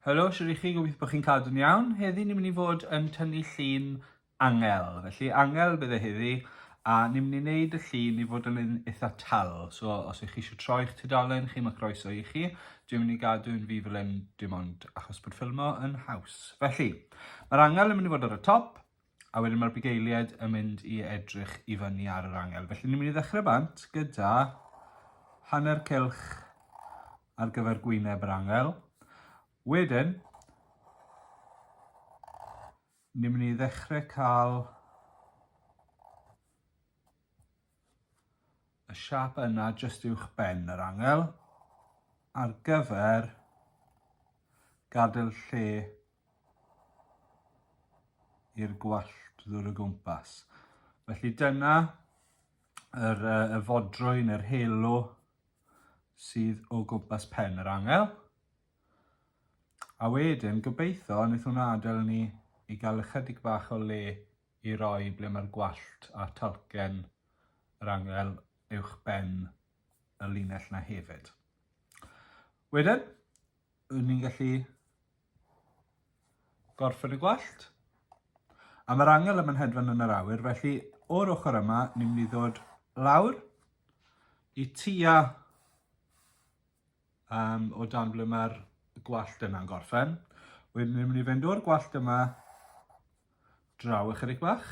Helo, siwr i chi, gobeithio bod chi'n cadw'n iawn. Heddi ni'n mynd i fod yn tynnu llun angel. Felly angel bydd e heddi, a ni'n mynd i wneud y llun i fod yn un eitha tal. So os ych chi eisiau troi eich tudalen chi, mae croeso i chi. Dwi'n mynd i gadw'n fi fel yn dim ond achos bod ffilmo yn haws. Felly, Mae'r angel yn mynd i fod ar y top, a wedyn mae'r bugeiliaid yn mynd i edrych i fyny ar yr angel. Felly ni'n mynd i ddechrau bant gyda hanner cylch ar gyfer gwyneb yr angel. Wedyn, ni'n mynd i ddechrau cael y siap yna jyst uwch ben yr angel ar gyfer gadael lle i'r gwallt ddwr o gwmpas. Felly dyna yr, uh, y fodrwyn, yr helo sydd o gwmpas pen yr angel. A wedyn, gobeithio, wnaeth hwnna adael ni i gael ychydig bach o le i roi ble mae'r gwallt a talcen yr angel uwch ben y linell na hefyd. Wedyn, Wn ni'n gallu gorffen y gwallt. A mae'r angel yma'n hedfan yn yr awyr, felly o'r ochr yma, ni'n mynd i ddod lawr i tua um, o dan ble mae'r gwallt yna'n gorffen. Wedyn ni'n mynd i fynd o'r gwallt yma draw ychydig bach,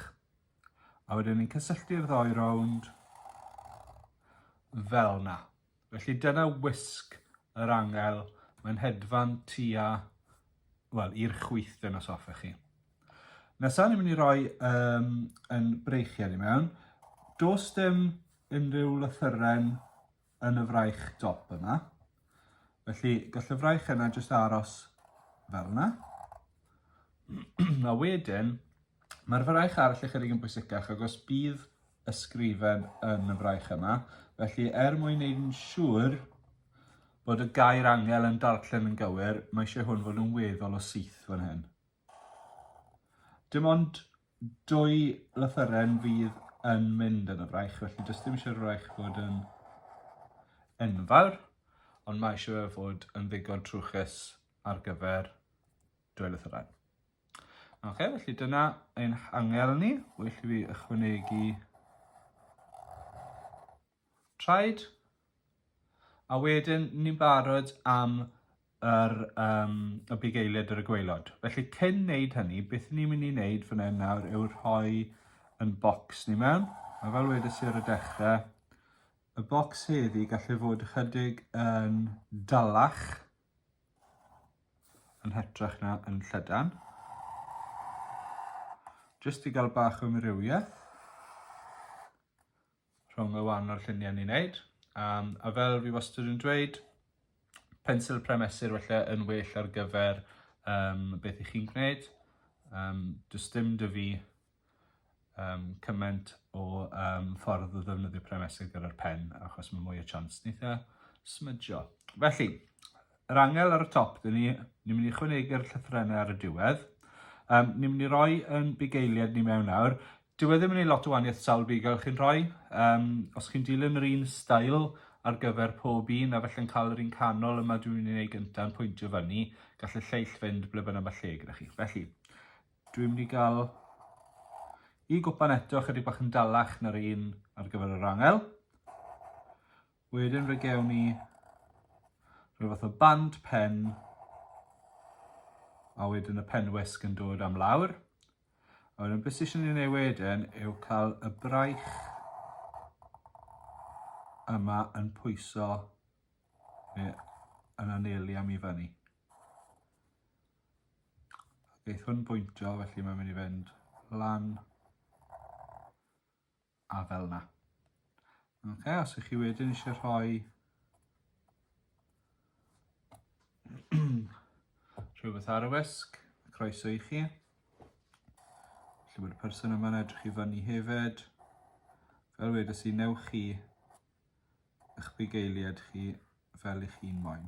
a wedyn ni'n cysylltu'r ddoi rownd fel na. Felly dyna wisg yr angel, mae'n hedfan tua, wel, i'r chwythdyn os hoffech chi. Nesaf ni'n mynd i roi um, yn breichiau ni mewn. Dos dim unrhyw lythyren yn y fraich dop yna. Felly gall y fraich yna jyst aros fel yna. a wedyn, Mae'r fraich arall ychydig yn bwysicach agos bydd ysgrifen yn y fraich yma. Felly er mwyn wneud yn siŵr bod y gair angel yn darllen yn gywir, mae eisiau hwn fod yn weddol o syth fan hyn. Dim ond dwy lythyren fydd yn mynd yn y fraich, felly does dim eisiau'r fraich fod yn enfawr, ond mae eisiau fe fod yn ddigon trwchus ar gyfer Dwelwch y rhain. Ok, felly dyna ein angel ni. Well i fi ychwanegu traed. A wedyn ni'n barod am yr, um, y big eiliad ar y gweilod. Felly cyn wneud hynny, beth ni'n mynd i wneud fan hyn nawr yw rhoi yn bocs ni mewn. A fel wedys i ar y dechrau, y bocs heddi gallai fod ychydig yn dalach yn hytrach na yn llydan. Jyst i gael bach o amrywiaeth rhwng y wahanol lluniau ni'n neud. Um, a fel fi wastad yn dweud, pensil premesur felly yn well ar gyfer um, beth i chi'n gwneud. Um, does dim dy fi um, cymaint o um, ffordd o ddefnyddio premesau gyda'r pen, achos mae mwy o chance neithiau smydio. Felly, yr angel ar y top, dyn ni, ni'n mynd i chwynegu'r llythrenau ar y diwedd. Um, ni'n mynd i roi yn bugeiliad ni mewn nawr. Dyw e ddim yn ei lot o waniaeth sawl bugel chi'n rhoi. Um, os chi'n dilyn yr un stael ar gyfer pob un a felly'n cael yr un canol yma dwi'n mynd i wneud gyntaf yn pwyntio fyny, gall y lleill fynd ble bynnag mae lle gyda chi. Felly, Dwi'n mynd i gael y gwpan eto chydig bach yn dalach na'r un ar gyfer yr angel. Wedyn fe gewn ni rhyw fath o band pen a wedyn y pen wisg yn dod am lawr. A wedyn beth sy'n ei wneud wedyn yw cael y braich yma yn pwyso yn anelu am i fyny. Gaeth hwn bwyntio, felly mae'n mynd i fynd lan a fel yna. Okay, os ych chi wedyn eisiau rhoi rhywbeth ar y wisg, croeso i chi. Felly mae'r person yma'n edrych i fyny hefyd. Fel wedi sy'n newch chi eich bugeiliad chi fel eich hun moyn.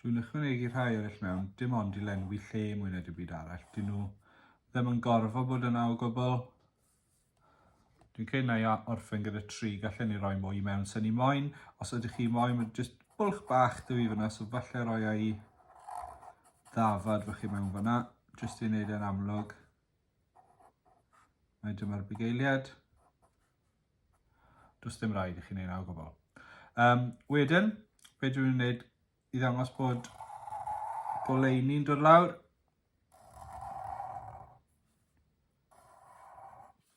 Dwi'n ychwanegu rhai eraill mewn, dim ond i lenwi lle mwy na dim byd arall. Dyn nhw ddim yn gorfod bod yna o gwbl. Dwi'n credu na i orffen gyda tri, gallen ni roi mwy mewn sy'n ni moyn. Os ydych chi moyn, mae'n jyst bwlch bach dy fi fyna, so falle roi ai ddafad fach i mewn fyna, jyst i wneud e'n amlwg. Mae dyma'r bugeiliad. Does ddim rhaid i chi wneud naw gofal. Um, wedyn, be dwi'n gwneud i ddangos bod goleini'n dod lawr.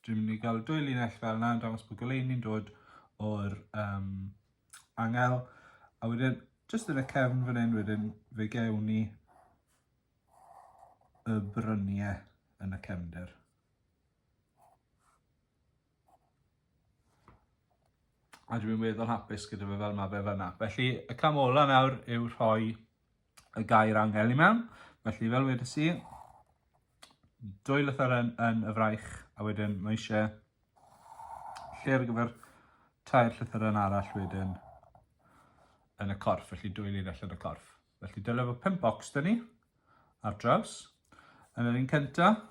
Dwi'n mynd i gael dwy linell fel yna yn dangos bod goleini'n dod o'r um, angel. A wedyn, jyst yn y cefn fan hyn wedyn, fe gewn ni y bryniau yn y cefnder. A dwi'n weddol hapus gyda fe fel mae fe fanna. Felly, y cam ola nawr yw rhoi y gair angel i mewn. Felly, fel wedi si, dwy lythyr yn, yn y fraich, a wedyn mae eisiau lle ar gyfer tair llythyr yn arall wedyn yn y corff, felly dwy lun allan y corff. Felly dyna fo pimp bocs dyn ni ar draws. Yn yr un cyntaf,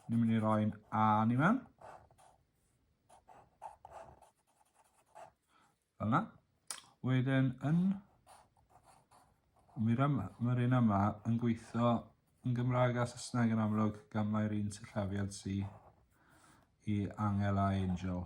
ni'n mynd i roi'n A ni mewn. Fel yna. Wedyn yn... Mae'r yma, mae'r un yma yn gweithio yn Gymraeg a Saesneg yn amlwg gan mae'r un sillafiad si i angel a angel.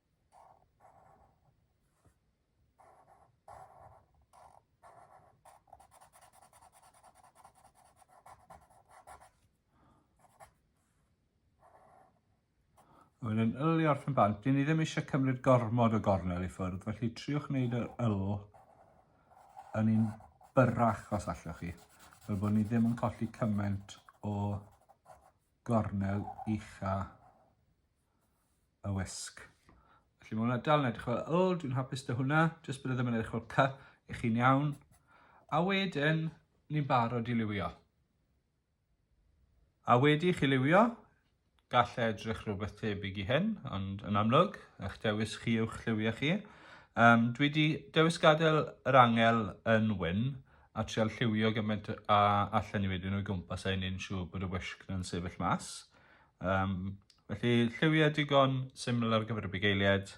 Mae'n yn ylu o'r pen bant. Dyn ni ddim eisiau cymryd gormod o gornel i ffwrdd, felly triwch wneud yr yl yn un byrrach os allwch chi, fel bod ni ddim yn colli cymaint o gornel ucha y wisg. Felly mae hwnna dal yn edrych fel yl, dwi'n hapus dy hwnna, jyst bod e ddim yn edrych fel cy i chi'n iawn. A wedyn, ni'n barod i liwio. A wedi chi liwio, gall e edrych rhywbeth tebyg i hyn, ond yn amlwg, eich dewis chi yw'ch lliwiau chi. Um, dwi wedi dewis gadael yr angel yn wyn a trial lliwio gymaint a allan i wedyn o'i gwmpas a ni'n siŵr bod y wisg yn sefyll mas. Um, felly lliwiau digon syml ar gyfer y bugeiliaid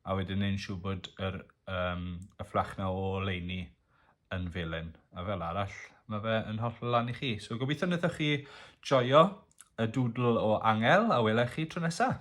a wedyn ni'n siŵr bod yr, um, y fflach na o leini yn felyn. A fel arall, mae fe yn holl lan i chi. So gobeithio wnaethoch chi joio y dŵdl o angel a welai chi tro nesaf.